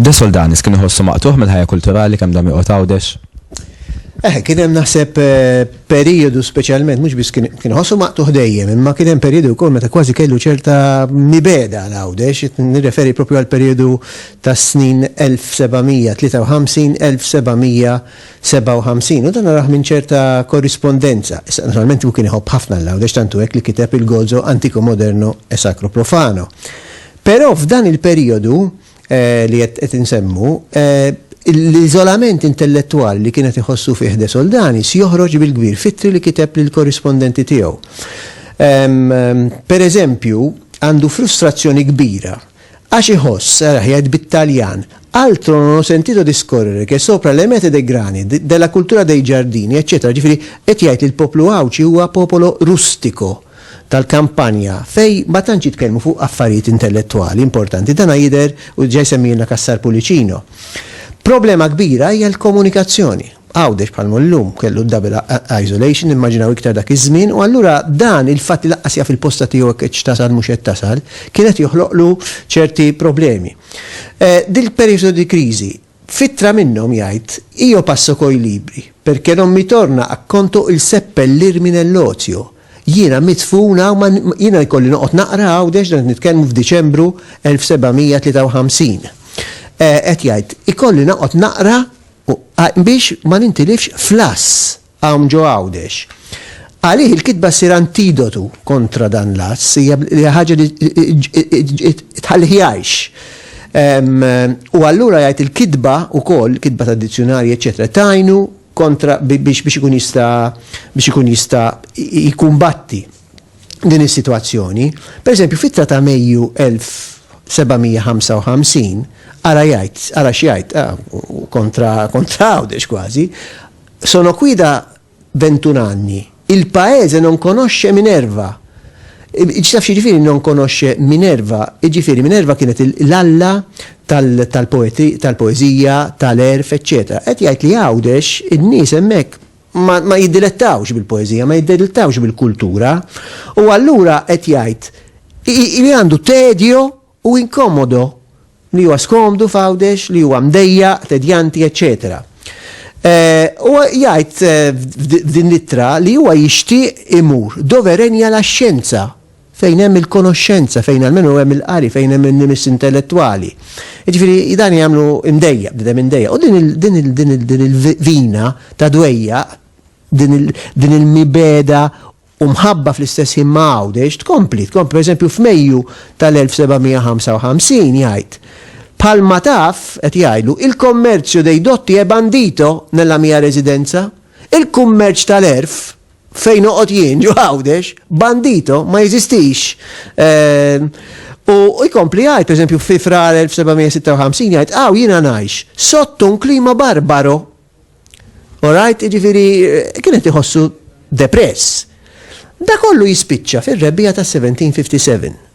De Soldanis kien iħossu maqtuħ mill-ħajja kulturali kemm dam joqgħod għawdex. Eh, kien hemm naħseb eh, periodu speċjalment mhux biss kien ħossu maqtuħ dejjem, imma kien hemm periodu wkoll meta kważi kellu ċerta mibeda għal għawdex, nirreferi propju għal periodu tas-snin 1753-1757 u dan narah minn ċerta korrispondenza. Issa, naturalment hu kien iħobb ħafna l-Għawdex tantu hekk li kiteb il-Gozo antico moderno e sacro profano. Però f'dan il-perijodu li qed qed insemmu, l-iżolament intellettwali li kien qed iħossu fih De Soldanis joħroġ bil-kbir f'ittri li kiteb lill-korrispondenti tiegħu. Pereżempju, għandu frustrazzjoni kbira Għax iħoss, saraħ jgħid bit-Taljan, Altro non ho sentito discorrere che sopra le mete dei grani, della cultura dei giardini, eċċetera Ġifieri, qed jgħid li l-poplu Għawdxi huwa popolo rustico, tal-kampanja, fejn ma tantx jitkellmu fuq affarijiet intellettwali importanti. Dana jidher, u diġà jsemmihilna Cassar Pullicino. Problema kbira hija l-komunikazzjoni. Għawdex bħal mhu llum, kellu d-double isolation, immaġinaw iktar dak iż-żmien, u allura dan il-fatt li lanqas jaf il-posta tiegħu jekk qedx tasal mhux qed tasal, kien qed joħloqlu ċerti problemi. Dil-perijodu di crisi, f'ittra minnhom jgħid, Io passo coi libri, perché non mi torna a conto il seppellirmi nell'ozio. Jiena midfun hawn ma, jiena jkolli noqgħod naqra Għawdex, dan qed nitkellmu f'Diċembru 1753. Qed jgħid, ikolli noqgħod naqra u biex ma nintilifx fl-għass hawn ġo Għawdex. Għalih il-kitba ssir antidotu kontra dan l-għass, hija ħaġa li tħallih jgħix. U allura jgħid il-kitba wkoll, kitba tad-dizzjunarji, eċċetera, tgħinu kontra biex ikun jista' biex ikun jista' jkumbatti. din is-sitwazzjoni. Pereżempju, f'ittra ta' Mejju 1755, ara jgħid, ara x'jgħid, ah, kontra, kontra Għawdex kważi, sono qui da ventunanni, il paese non conosce Minerva. Ġtaf ġifiri non conosce Minerva, ġifiri Minerva kienet l-alla tal-poezija, tal-erf, eccetera. Qed jgħid li Għawdex in-nies hemmhekk ma jiddilettawx bil-poeżija, ma jiddilettawx bil-kultura, u allura qed jgħid li għandu tedjo u inkomodo, li huwa skomdu f'Għawdex, li huwa mdejjaq, tedjanti, eċċetera. Eh, u jgħid eh, f'din l-ittra li huwa jixtieq imur doverenja la xjenza fejn hemm il-konoxxenza, fejn almenu hemm il-qari, fejn hemm in-nimis intellettwali. Jiġifieri dan jagħmlu imdejjaq, bniedem imdejjaq. U din il-vina ta' dwejjaq, din il-mibegħda u mħabba fl-istess ħin ma' Għawdex tkompli, tkompli. Pereżempju f'Mejju tal-1755 jgħid, Bħalma taf, qed jgħidlu, il commercio dei dotti è bandito nella mia residenza? Il-kummerċ tal-għerf, Fejn noqgħod jien ġo Għawdex, bandito ma jeżistix. Ehm, u jkompli jgħid, pereżempju, fi frar 1756 jgħid, għaw jiena ngħix sotto un klima barbaro. Alright, ġifiri, eh, kienet iħossu depress. Da kollu jispiċċa fir-rebbija ta' 1757.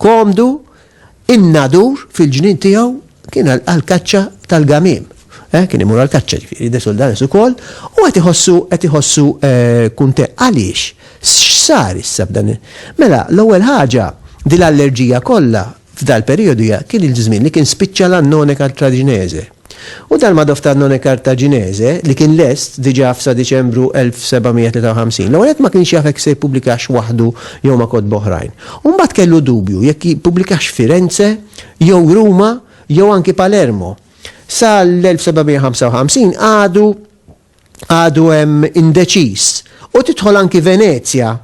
komdu in-nadur fil-ġnien tiegħu kien għal-kaċċa tal-gamim. Eh, kien imur għal-kaċċa ġifieri de soldanis ukoll u qed iħossu qed iħossu eh, kunte għaliex x'sar issa b'dan. Mela l-ewwel ħaġa din l-allerġija kollha f'dal periodu kien il-żmien li kien spiċċa l-annone kartraġinese. U dan ma' Doftalnone Kartaġinese, li kien lest diġà f'sa Diċembru 1753. L-ewwel nett ma kienx jaf jekk se jippubblikax waħdu jew ma' kotba oħrajn. U mbagħad kellu dubju jekk jippubblikax Firenze jew Ruma jew anki Palermo. Sa l-1755 għadu għadu hemm indeċiż u tidħol anki Venezja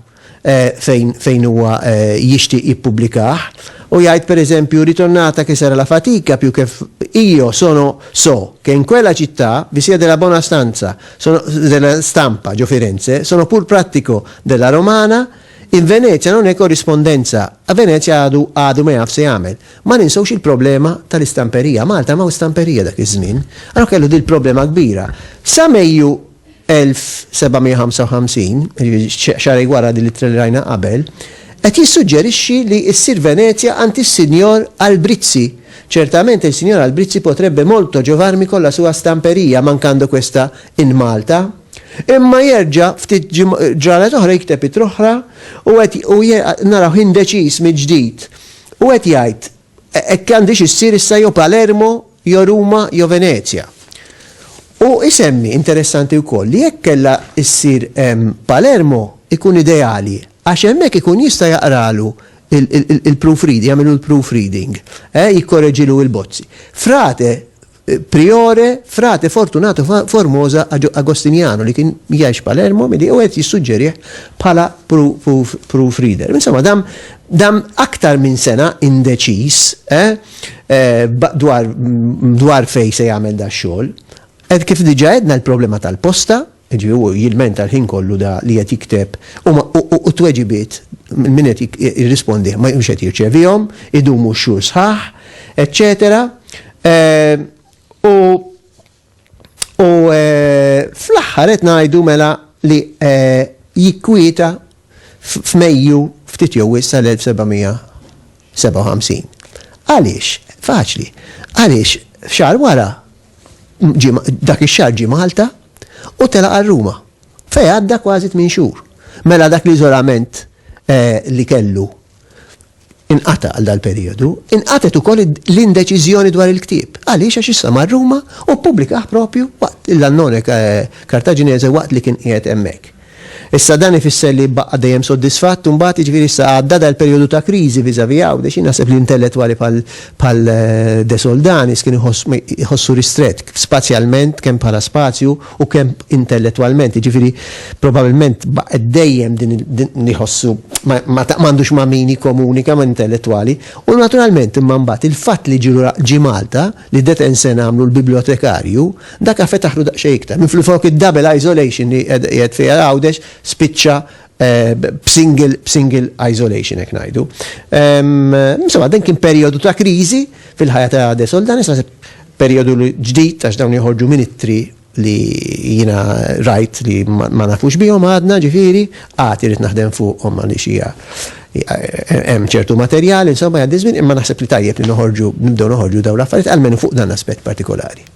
fejn fejn huwa jixtieq jippubblikah u jgħid pereżempju ritornata che sarà la fatica più che io sono so che in quella città vi sia della buona stanza sono della stampa ġo Firenze sono pur prattico della romana in Venezia non è corrispondenza a Venezia għadu għadu ma jaf se jagħmel Ma ninsewx il-problema tal-istamperija. Malta m'hawn stamperija dak iż-żmien. Allura kellu din il-problema kbira. Sa Mejju 1755, xahrejn wara din l-ittra li rajna qabel, qed jissuġġerixxi li ssir Venezja għand is-Sinjor Albrizzi. Certamente il signor Albrizzi potrebbe molto giovarmi con la sua stamperia mancando questa in Malta. Imma jerġa' ftit ġranet oħra jikteb ittra oħra u qed u narawh indeċiż mill-ġdid. Hu qed jgħid, Hekk għandhiex issir issa jew Palermo, jew Ruma, jew Venezja. Hu jsemmi, interessanti wkoll, li jekk kellha ssir Palermo jkun ideali għax hemmhekk ikun jista' jaqralu l-proofreading, jagħmilu l-proofreading, eh, jikkoreġilu l-bozzi. Frate, Priore, Frate Fortunato Formosa Agostiniano li kien jgħix Palermo milli u qed jissuġġerih bħala proof reader. Insomma, dam dam aktar minn sena indeċiż eh, eh, dwar, dwar fej se jagħmel da xogħol. Ed kif diġa edna l-problema tal-posta, Jiġifieri hu jilmenta l-ħin kollu da li qed jikteb u ma u u t-tweġibiet minn min qed jirrispondih ma mhux qed jirċevihom, idumu x-xhur sħaħ, eċċetera. U u fl-aħħar qed ngħidu mela li jikkwieta f'Mejju ftit jew wisq tal-1700 57. Għaliex? Faċli. Għaliex xar wara dak ix-xahar ġie Malta u telaq għal Ruma fejn għadda kważi tmien xhur. Mela dak l-iżolament li kellu inqata' għal dal-perijodu, inqatet ukoll l-indeċiżjoni dwar il-ktieb. Għaliex għax issa mar Ruma u ppubblikah propju waqt l-Annone Kartaġinese waqt li kien qiegħed hemmhekk. Issa dan ifisser li jbaqqa' dejjem soddisfatt imbagħad, jiġifieri issa għadda dal-perjodu ta' kriżi vis-à-vis Għawdex. Jien naħseb li intellettwali bħal bħal De Soldanis kien iħoss iħossu ristrett spazjalment kemm bħala spazju u kemm intellettwalment, jiġifieri probabilment baqgħet dejjem din din iħossu ma ma m'għandux ma' min jikkomunika ma' intellettwali u naturalment imma mbagħad il-fatt li ġie Malta li Detenzen għamlu l-bibljotekarju Daka fetaħlu daqsxejn iktar. Minflufok id-double isolation li qiegħed fiha Għawdex spiċċa b'single b'single isolation hekk ngħidu. Insomma, dan kien perjodu ta' kriżi fil-ħajja ta' De Soldanis, naħseb perjodu ġdid għax dawn joħorġu ministri li jina rajt li ma nafux bihom għadna ġifiri, għati rrit naħdem fuqhom għalli xija hemm ċertu materjal, insomma għaddi żmien, imma naħseb li tajjeb li noħorġu, nibdew noħorġu dawn l-affarijiet, għalmenu fuq dan aspett partikolari.